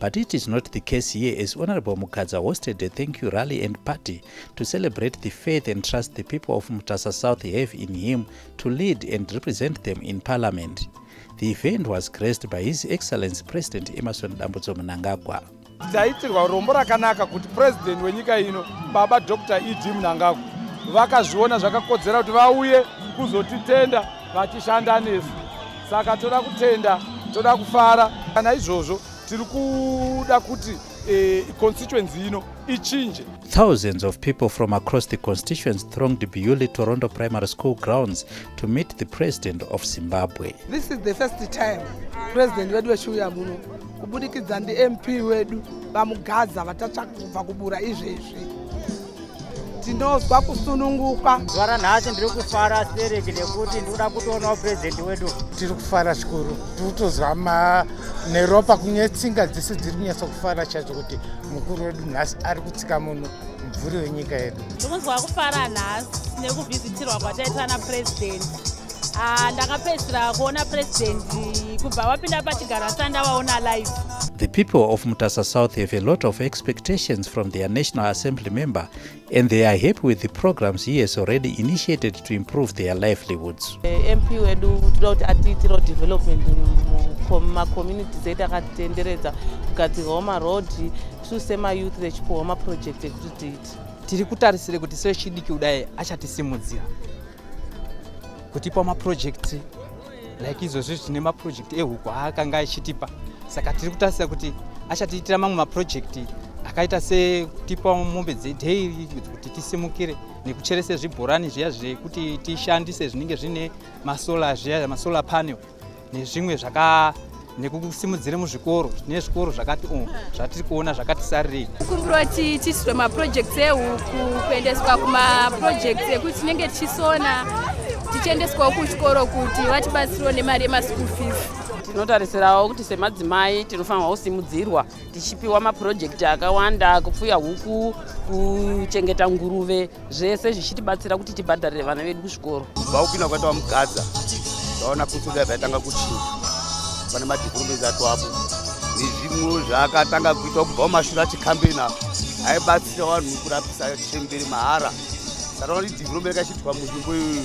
But it is not the case here as Honorable Mugadza hosted a thank you rally and party to celebrate the faith and trust the people of Mutasa South have in him to lead and represent them in parliament. The event was graced by His Excellency President Emerson Dambudzo Mnangagwa. Taitirwa rombo rakanaka kuti president wenyika ino baba Dr. ED Mnangagwa vakazviona zvakakodzera kuti vauye kuzotitenda vachishanda nesu saka toda kutenda toda kufara kana izvozvo tiri kuda kuti eh, constituency ino ichinje Thousands of people from across the constituents thronged Biyuli Torondo Primary School grounds to meet the president of Zimbabwe. This is the first time president wedu vechiuya muno kubudikidza ndiMP wedu vamugadza vatatsvaka kubva kubura izvezvi. tinonzwa kusununguka zuva ranhasi ndiri kufara stereki nekuti ndikuda kutoonawo purezidenti wedu tiri kufara zvikuru tiri kutozwa neropa kunye tsinga dzese dziri kunyatsa kufara chacho kuti mukuru wedu nhasi ari kutsika muno mubvuri wenyika yedu ndikunzwa kufara nhasi nekuvhizitirwa kwataitana purezidenti Ah, ndakapedzisira kuona president kubva wapinda pachigaro asanda waona live The people of Mutasa South have a lot of expectations from their National Assembly member and they are happy with the programs he has already initiated to improve their livelihoods. Eh, MP wedu tinoda kuti atiitirawo development mumacommunities edu akatitenderedza kugadzirwawo maroad tisu semayouth vechipuhwa maproject ekuti tiiti tiri kutarisire kuti sechidiki kudai achatisimudzira kutipa mapurojekiti like izvozvi zvine mapurojekiti ehuku aakanga achitipa saka tiri kutasira kuti achatiitira mamwe mapurojekiti akaita sekutipa mombe dzedheyiri kuti tisimukire nekucherese zvibhorani zviya zvekuti tishandise zvinenge zvine masola zviya masolar panel nezvimwe zvaka nekusimudzira muzvikoro tine zvikoro zvakati o oh, zvatiri kuona zvakati sarirei kumbiro tichiisirwa maprojects ehuku kuendeswa kumaprojects ekuti tinenge tichisona tichiendeswawo kuchikoro kuti vatibatsiriwo nemari yemaschool fees tinotarisirawo kuti semadzimai tinofanirwa kusimudzirwa tichipiwa mapurojekiti akawanda kupfuya huku kuchengeta nguruve zvese zvichitibatsira kuti tibhadharire vana vedu kuzvikoro vakupinda kwatawa mugadza vaona kusuda zvaitanga kuchinja pane madhikurumenzi ato apo nezvimwewo zvaakatanga kuitwa kubva mumashura achikambeni apo aibatsira vanhu kurapisa chemberi mahara saka vanotidikuromeka chiitwa munzvimbo iyoyo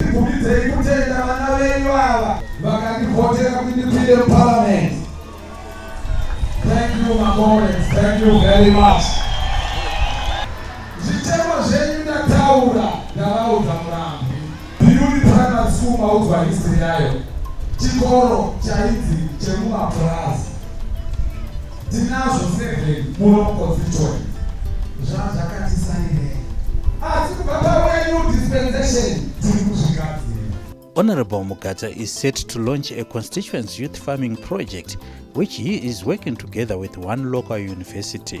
Ndikubidzei kutenda vana venyu ava vakandivhotera kuti ndipinde muparliament. Thank you my comrades, thank you very much. Zvitemo zvenyu ndataura ndavaudza murambi. Biyuni primary school maudzwa history yayo. Chikoro chainzi chemumapurazi. Tinazvo seven muno constituent zvazvakatisairei asi kubva pauya new dispensation tiri kuzvigadzira. Honourable Mugacha is set to launch a constituents youth farming project which he is working together with one local university.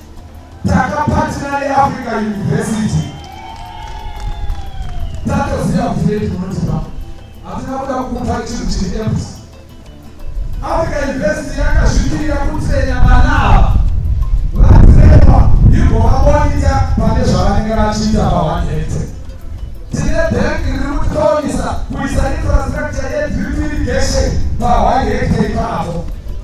Takapatira neAfrica University tatoziva kuti nei tinotipa hatina kuda kupa chinhu chiri empty. Africa University yakazvimirira kutsenya vana ava vatsengwa igovabonita pane zvavanenge vachiita paone hectare. Tine bhengi riri kutitonisa kuisa infrastructure yedrip irrigation paone hectare ipapo.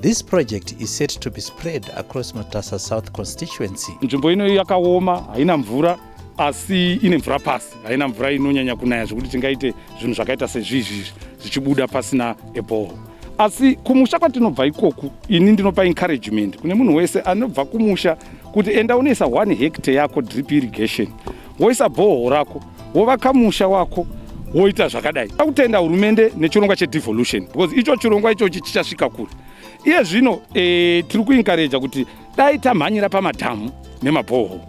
This project is set to be spread across Matasa South constituency. Nzvimbo ino yakaoma, haina mvura asi ine mvura pasi, haina mvura inonyanya kunaya zvekuti tingaite zvinhu zvakaita sezvizvi zvichibuda pasina eboho. Asi kumusha kwatinobva ikoku, ini ndinopa encouragement kune munhu wese anobva kumusha kuti enda unoisa 1 hectare yako drip irrigation woisa bhoho rako wovaka musha wako woita zvakadai akutenda hurumende nechirongwa chedevolution because icho chirongwa ichochi chichasvika kure iye zvino e, tiri kuinkareja kuti dai tamhanyira pamadhamu nemabhoho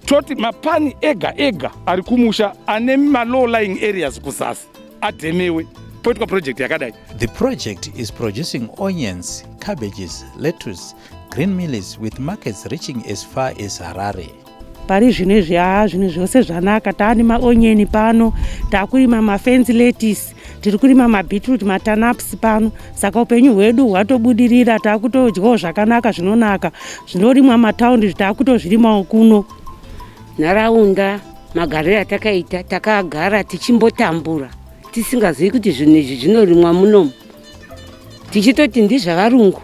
toti mapani ega ega ari kumusha ane malow lying areas kuzasi adhemewe poitwa project yakadai the project is producing onions cabbages lettuce green millis with markets reaching as far as harare pari zvino izvi haa zvinhu zvose zvanaka taani maonyeni pano takurima mafensi letisi tiri kurima mabeetroot matanaps pano saka upenyu hwedu hwatobudirira taakutodyawo zvakanaka zvinonaka zvinorimwa mataundi zvitaakutozvirimawo kuno nharaunda magariro atakaita takagara tichimbotambura tisingazivi kuti zvinhu izvi zvinorimwa munomu tichitoti ndizvavarungu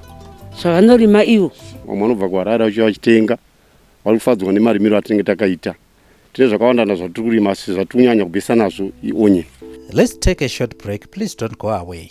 zvavanorima ivo vamwe vanobva kuharare vachiuya vachitenga vari kufadzwa nemarimiro atinenge takaita tine zvakawanda na zvatiri kurima asi zvatiri kunyanya kubesa nazvo ionyeni let's take a short break please don't go away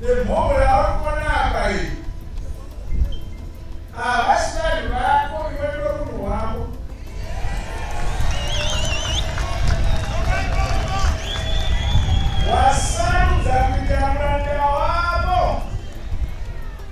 nemhomho yauri kuona apa iyi havasi vanhu vako iwe ndo munhu wavo wasarudza kuita muranda wavo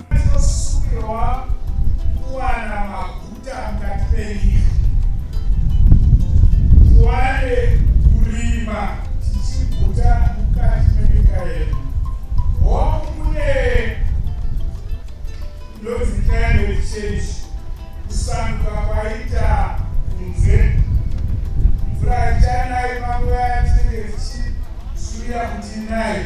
Tinosungirwa kuwana maguta mukati menyika, tiwane kurima tichiguta mukati menyika yedu. Hongu kune ndonzi climate change, kusanduka kwaita kunze, mvura ichanai makoya tinenge tichizuya kuti inai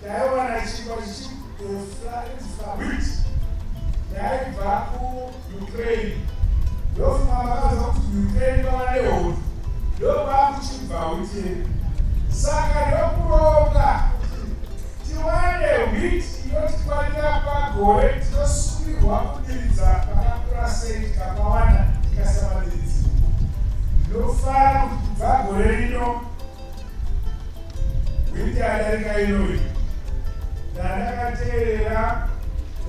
Ndaiwana chingwa chichigosa wheat yaibva kuUkraine ndofunga makaza kuti Ukraine kwava nehondo ndokwakuchibva wheat yedu saka ndokuronga tiwane wheat inotikwanira pagore tinosungirwa kudiridza pakakura sei tikakawanda tikasavadiridzira ndinofara kuti kubva gore rino Wiki yadarika inoyi ndandakateerera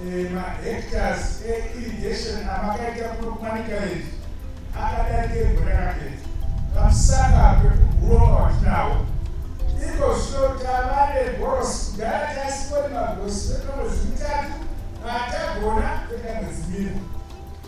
eh, mahectors eirrigation eh, amakaita kuno kumanikaezi akadarika egore rakapedza pamusaka pekuguroka watinawo iko zvino tava negorosi kudhara taisipori magorosi vekamwedzi mitatu atagona veka mwedzi mina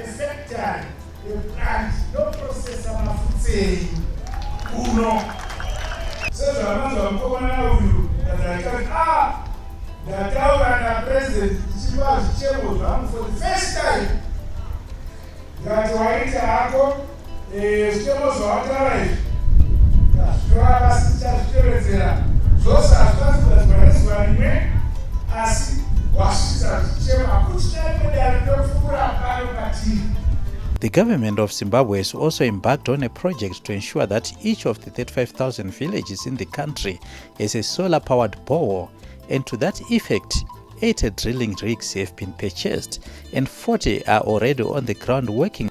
efactory replant inoprocessa mafutsa enyu kuno sezvavanonzwa mukomana uyu kazaikai a ah, ndataura napresident ndichipa zvichemo zvangu for the first time ndati waita hako Eh, zvichemo zvawataura izvi tazvitora pasi tichazvitevedzera zvose hazvikwanisi kugadzirwa nezuva rimwe asi wasvitsa zvichemo hakuti chaiko dare rinopfuura pano patiri The government of Zimbabwe has also embarked on a project to ensure that each of the 35,000 villages in the country has a solar powered borehole, and to that effect, 80 drilling rigs have been purchased and 40 are already on the ground working.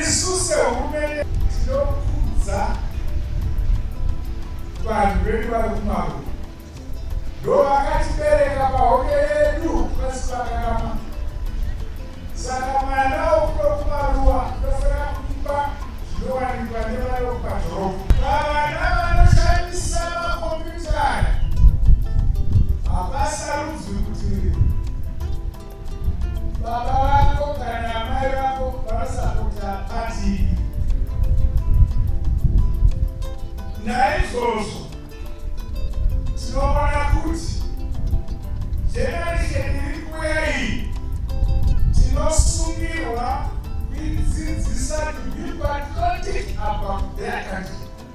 isu sehurumende tinokudza vanhu vedu vari kumaru ndo vakatibereka pahoke yedu pasi pakarama saka mwana wokuno kumaruwa ndofanira kuipa zvinowanikwa nevana vekumadhorobha vavana vanoshandisa makombiyuta aya havasarudzwi kuti Baba vako kana amai vako vanosapota pati naizvozvo tinoona kuti generation iri kuuya iyi tinosungirwa kuidzidzisa to be patriotic about their country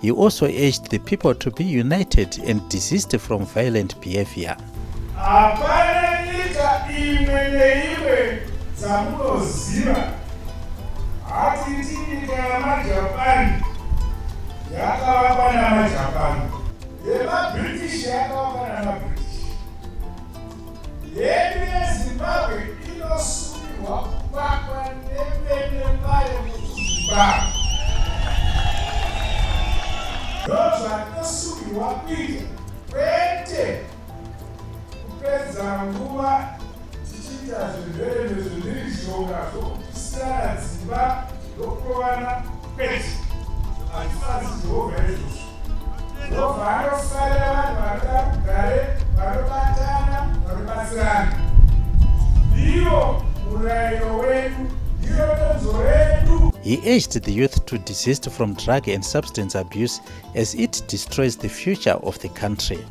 He also urged the people to be united and desist from violent behavior. Hapana nyika imwe neimwe dzamunoziva hatiti nyika yamajapani yakavakwa namajapani yemabritish yakavakwa namabritish Hedu yeZimbabwe inosungirwa kuvakwa nevene vayo muZimbabwe. Ndozvatinosungirwa kuita kwete kupedza nguva tichiita zvirwere zvemhirizhonga zvokupisirana dzimba zvokurovana kwete. Hatifanzi Jehovha izvozvo. Jehovha anofarira vanhu vanoda rugare, vanobatana, vanobatsirana. Ndiyo murayiro wedu, ndiyo donzvo redu. He urged the youth to desist from drug and substance abuse as it destroys the future of the country.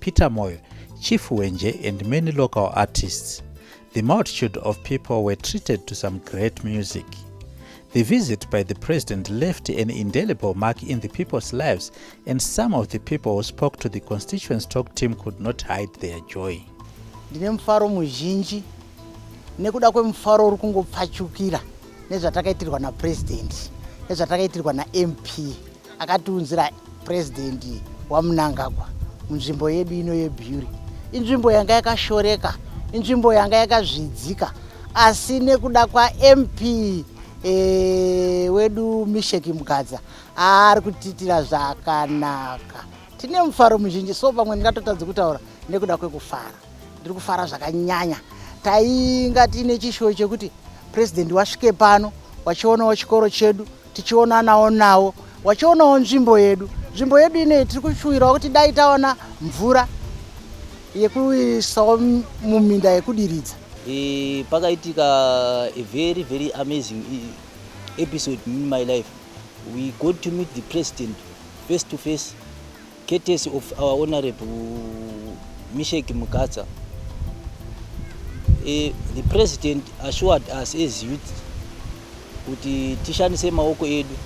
Peter Moyo, Chief Wenje and many local artists. The multitude of people were treated to some great music. The visit by the president left an indelible mark in the people's lives, and some of the people who spoke to the constituents talk team could not hide their joy. Ndine mufaro muzhinji nekuda kwemufaro uri kungopfachukira nezvatakaitirwa napresident nezvatakaitirwa naMP akatiunzira president wamunangagwa munzvimbo yedu ino yebhuri inzvimbo yanga yakashoreka inzvimbo yanga yakazvidzika asi nekuda kwamp e, eh, wedu misheki mugadza ari kutiitira zvakanaka tine mufaro muzhinji so pamwe ndingatotadzi kutaura nekuda kwekufara ndiri kufara zvakanyanya tainga tiine chishuwo chekuti president wasvike pano wachionawo chikoro chedu tichionanawo nawo wachionawo nzvimbo yedu nzvimbo yedu inei tiri kushuwirawo kuti dai taona mvura yekuisawo muminda yekudiridza e, pakaitika a very very amazing episode in my life we got to meet the president face to face Courtesy of our Honorable Mishek Mukatsa, eh, the President assured us as youth kuti tishandise maoko edu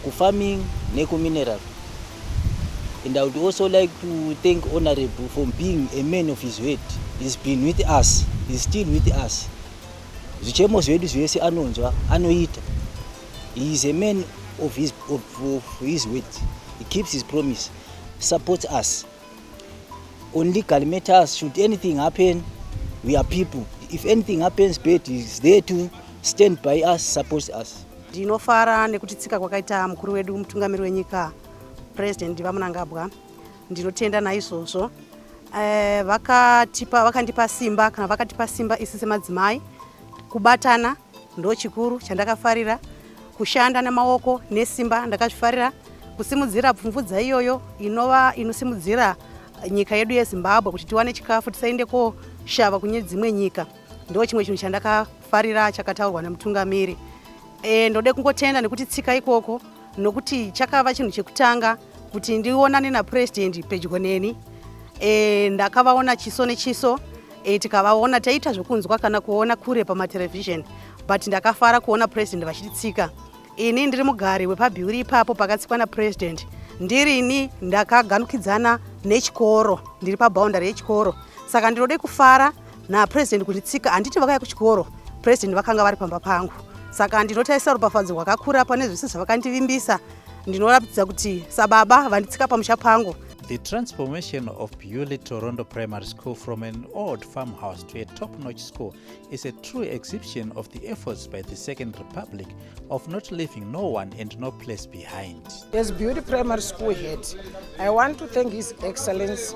kufarming nekumineral and I would also like to thank Honorable for being a man of his word. He's been with us, he's still with us. Zvichemo zvedu zvese anonzwa, anoita. He is a man of his, of, of his word. He keeps his promise. Support us. On legal matters, should anything happen, we are people. If anything happens, Bed is there to stand by us, support us. Ndinofara nekuti tsika kwakaita mukuru wedu mutungamiri wenyika President vaMunangabwa. Ndinotenda naizvozvo. Eh, vakatipa vakandipa simba kana vakatipa simba isi semadzimai kubatana Ndochikuru chandakafarira kushanda nemaoko nesimba ndakazvifarira kusimudzira pfumvudza iyoyo inova inosimudzira nyika yedu yezimbabwe kuti tiwane chikafu tisaende koshava kune dzimwe nyika ndo chimwe chinhu chandakafarira chakataurwa nemutungamiri e, ndode kungotenda nekuti tsika ikoko nokuti chakava chinhu chekutanga kuti ndionane napurezidendi pedyo neni e, ndakavaona chiso nechiso e, tikavaona taiita zvekunzwa kana kuona kure pamaterevhizheni but ndakafara kuona purezidendi vachititsika ini ndiri mugari wepabhiuri ipapo pakatsikwa napurezidendi ndirini ndakaganukidzana nechikoro ndiri paboundary yechikoro saka ndinode kufara napresident kuti tsika handiti vakaya kuchikoro president vakanga vari pamba pangu saka ndinotaisa rupafadzo rwakakura pane zvese zvavakandivimbisa ndinoratidza kuti sababa vanditsika pamusha pangu The transformation of Beauly Torondo Primary School from an old farmhouse to a top-notch school is a true exhibition of the efforts by the Second Republic of not leaving no one and no place behind. As Beauly Primary School head, I want to thank His Excellency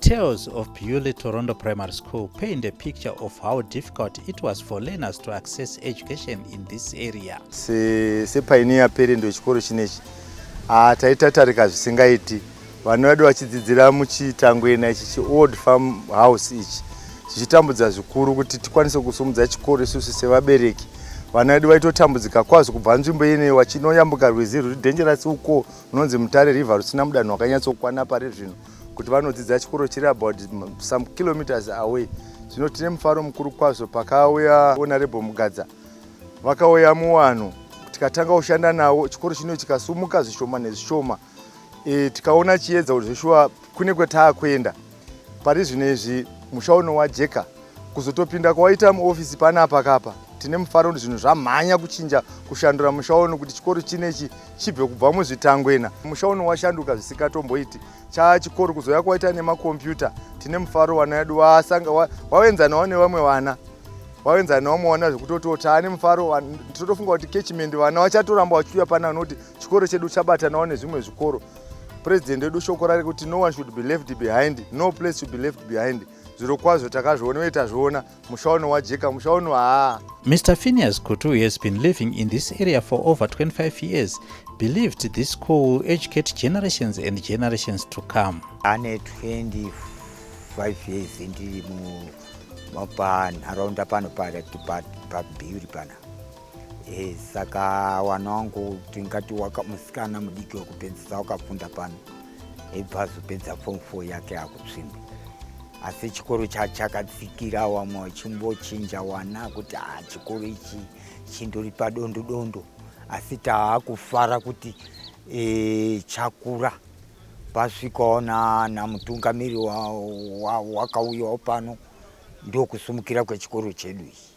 Tales of Bewley Torondo Primary School paint a picture of how difficult it was for learners to access education in this area. Sepainiya se parent wechikoro chinechi ah, taitatarika zvisingaiti vana vedu vachidzidzira muchitangwena ichi chiold farm house ichi zvichitambudza zvikuru kuti tikwanise kusumudza chikoro isusu sevabereki vana vedu vaitotambudzika kwazvo kubva nzvimbo ine wachinoyambuka rwizi ruri dhenjerasi uko runonzi mutare river rusina mudanho wakanyatsokwana pari zvino kuti vanodzidza chikoro chiri about some kilometers away zvino tine mufaro mukuru kwazvo pakauya honorable mugadza vakauya muwanhu tikatanga kushanda nawo chikoro chino chikasumuka zvishoma nezvishoma e, tikaona chiedza kuti zveshuwa kune kwataakuenda pari zvino izvi musha uno wajeka Kuzotopinda kwawaita muofisi panapa kapa tine mufaro kuti zvinhu zvamhanya kuchinja kushandura musha uno kuti chikoro chinechi chibve kubva muzvitangwena musha uno washanduka zvisikatomboiti chaa chikoro kuzouya kwaita nemakombiyuta tine mufaro vana vedu wasanga wawenzanawo nevamwe vana wawenzanawo vamwe vana zvekutoti otaa nemufaro tinotofunga kuti kechimendi vana vachatoramba vachiuya pana nokuti chikoro chedu chabatanawo nezvimwe zvikoro president wedu shoko rarekuti no one should be left behind no place should be left behind zviro kwazvo takazviona uye tazviona musha uno wajeka musha uno haa mr phineas kutu who has been living in this area for over 25 years believed this school will educate generations and generations to come ane 25 years ndiri mu panharaunda pano pabhiuri pana Hey, eh, saka wana wangu tingati waka musikana mudiki wekupedzisa wakafunda pano ebva azopedza form four yake akutsvimba asi chikoro chachakatsikira wamwe wachimbochinja wana kuti ha ah, chikoro ichi chindori padondo dondo asi taakufara kuti e, chakura pasvikawo namutungamiri wakauyawo wa, wa, pano ndokusumukira kwechikoro chedu ichi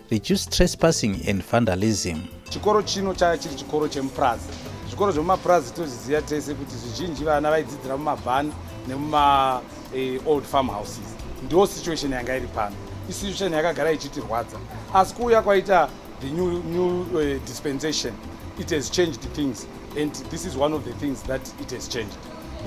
Reduce trespassing and vandalism. Chikoro chino chaya chiri chikoro chemupurazi. Zvikoro zvemumapurazi tozviziva tese kuti zvizhinji vana vaidzidzira mumabhani nemuma eh, old farm houses. Ndiwo situation yanga iri pano. Isitution yakagara ichitirwadza. Asi kuuya kwaita the new, new uh, dispensation, it has changed things. And this is one of the things that it has changed.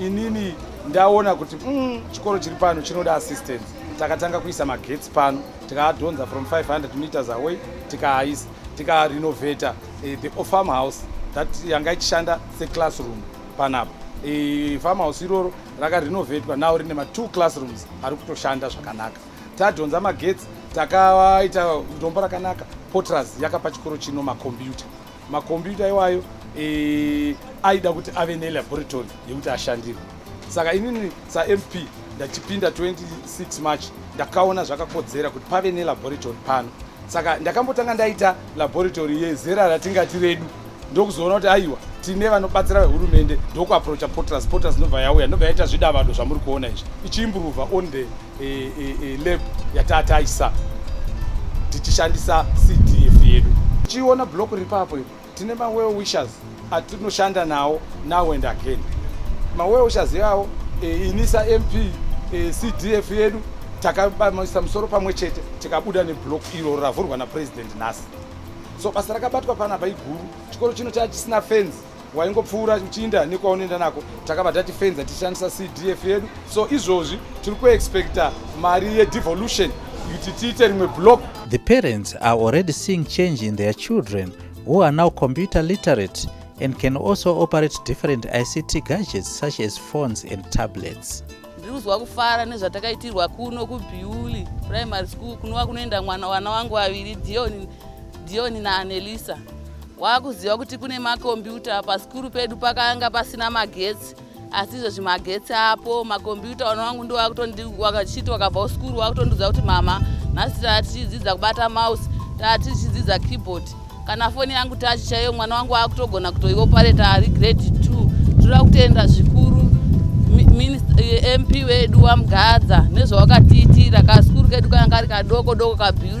inini ndaona kuti mm, chikoro chiri pano chinoda assistance takatanga kuisa magetsi pano tikaadhonza from 500 meters away tikaaisa tikarenovata eh, the farm house that yanga ichishanda seclassroom panapa eh, farm house iroro rakarenovatwa now rine matwo classrooms ari kutoshanda zvakanaka tadhonza magetsi takaita dombo rakanaka potras yakapa chikoro chino makombiyuta makombiyuta iwayo e, aida kuti ave nelaboratory yekuti ashandirwe saka inini samp ndachipinda 26 march ndakaona zvakakodzera kuti pave nelaboratory pano saka ndakambotanga ndaita laboratory yezera ratingati redu ndokuzoona kuti aiwa tine vanobatsira vehurumende ndokuaprocha potas potas ndobva yauya ndobva yaita zvidavado zvamuri kuona izvi ichiimburuva on the e, e, e, lab yatataisa tichishandisa cdf yedu tichiona block ripapo tine mawell wishers atinoshanda nawo now and again mawell wishers yawo e, inisa mp e, cdf yedu takabamisa musoro pamwe chete tikabuda neblock iro ravhurwa napresident nhasi so basa rakabatwa panapa iguru chikoro chino chaa chisina fenzi waingopfuura uchiinda nekwaunoenda nako takabva tatifenza tichishandisa cdf yedu so izvozvi tiri kuexpecta mari yedevolution kuti tiite rimwe block the parents are already seeing change in their children who are now computer literate and can also operate different ict gadgets such as phones and tablets ndiri kuzwa kufara nezvatakaitirwa kuno kubiuli primary school kunova kunoenda mwana wana wangu vaviri dion Dion naAnelisa wakuziva kuti kune makombiyuta pasikuru pedu pakanga pasina magetsi asi izvezvi magetsi apo makombiyuta vana wangu ndo wakutondivakachiti wakabva kusikuru wakutondiudza kuti mama nhasi tatichidzidza kubata mouse tatichidzidza keyboard kana foni yangu tachi chaiyo mwana wangu wakutogona kutoiopareta ari grade two toda kutenda zvikuru mp wedu wamgadza nezvawakatiitira kasikuru kedu kanga kari kadoko doko kabiu